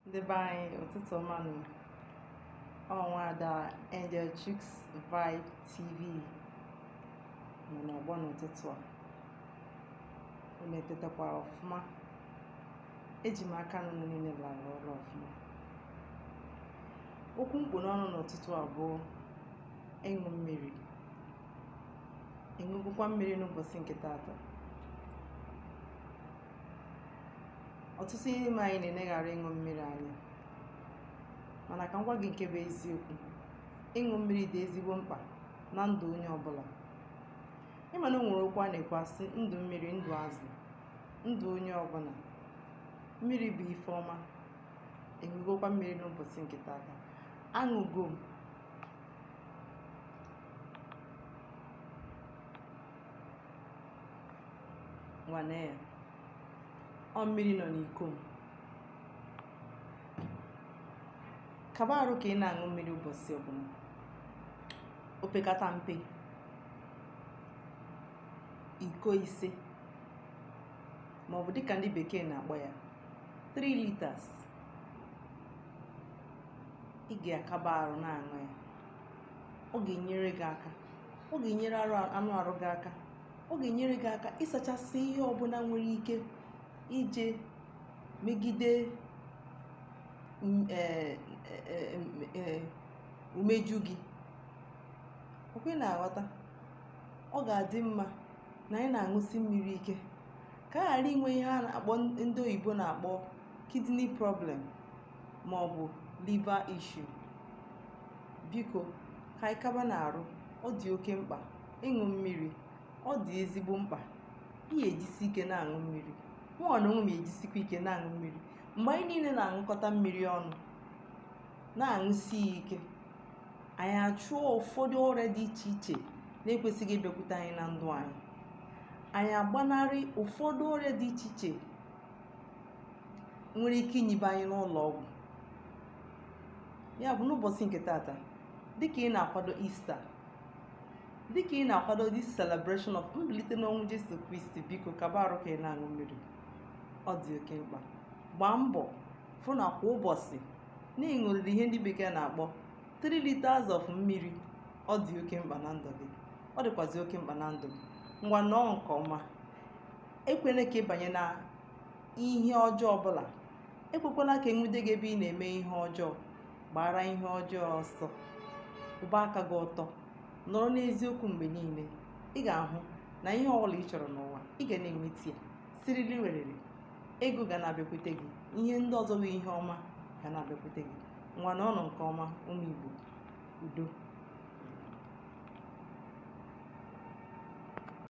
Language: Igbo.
ndị be anyị ụtụtụ ọma nụ ọ nwa ada Angel Chicks Vibe TV nọ n'ọgbọ n'ụtụtụ a unu etetakwara ọfụma eji m aka na unu niile lara ụra ọfụma okwu m kpụ n'ọnụ n'ụtụtụ a bụ ịṅụ mmiri ị ṅụgokwa mmiri n'ụbọsị nke taata ọtụtụ ihe n'ime anyị na-eneghara ịṅụ mmiri anya mana ka m gwa gị nke bụ eziokwu ịṅụ mmiri dị ezigbo mkpa na ndụ onye ọbụla ị ma na o nwere okwu a na-ekwu a sị ndụ mmiri ndụ azụ ndụ onye ọbụla mmiri bụ ife ọma ị ṅụgokwa mmiri n'ụbọsị nke taata aṅụgo m ngwa nee ya ọ mmiri nọ n'iko m kaba arụ ka ị na-aṅụ mmiri ụbọsị ọbụla opekata mpe iko ise ma ọ bụ dịka ndị bekee na-akpọ ya 3 liters ị ga-akaba arụ na-aṅụ ya ọ ga-enyere gị aka ọ ga-enyere anụ arụ gị aka ọ ga-enyere gị aka ịsachasị ihe ọbụla nwere ike ije megide m- eh, eh, eh, m- eh, umeju gị ọ kwa ị na-aghọta ọ ga-adị mma na anyị na-aṅụsi mmiri ike ka a ghara inwe ihe a na-akpọ ndị oyibo na-akpọ kidney problem ma ọ bụ liver issue biko ka anyị kabanụ arụ ọ dị oke mkpa ịṅụ mmiri ọ dị ezigbo mkpa ị ga-ejisi ike na-aṅụ mmiri mụ na onwe m ejisikwa ike na-aṅụ mmiri mgbe anyị niile na-aṅụkọta mmiri ọnụ na-aṅụsi ya ike anyị achụọ ụfọdụ ọrịa dị iche iche na-ekwesịghị ịbịakwute anyị na ndụ anyị anyị agbanarị ụfọdụ ọrịa dị iche iche nwere ike inyibe anyị n'ụlọ ọgwụ ya bụ n'ụbọsị nke taata dịka ị na-akwado Easter dịka ị na-akwado this celebration of mbilite n'ọnwụ Jesu Kristi biko kaba arụ ka ị na-aṅụ mmiri ọ dị oke mkpa gbaa mbọ fụ na kwa ụbọsị na ị ṅụrịrị ihe ndị bekee na-akpọ 3 liters of mmiri ọ dị oke mkpa na ndụ gị ọ dịkwazi oke mkpa na ndụ m ngwa nọọ nke ọma ekwela ka ị banye na ihe ọjọọ ọbụla ekwekwala ka e nwude gị ebe ị na-eme ihe ọjọọ gbaara ihe ọjọọ ọsọ kwụba aka gị ọtọ nọrọ n'eziokwu mgbe niile ị ga-ahụ na ihe ọbụla ị chọrọ n'ụwa ị ga na-enweta ya siriri werere ego ga na-abịakwute gị ihe ndị ọzọ bụ ihe ọma ga na-abịakwute gị ngwa nọọnụ nke ọma ụmụ Igbo udo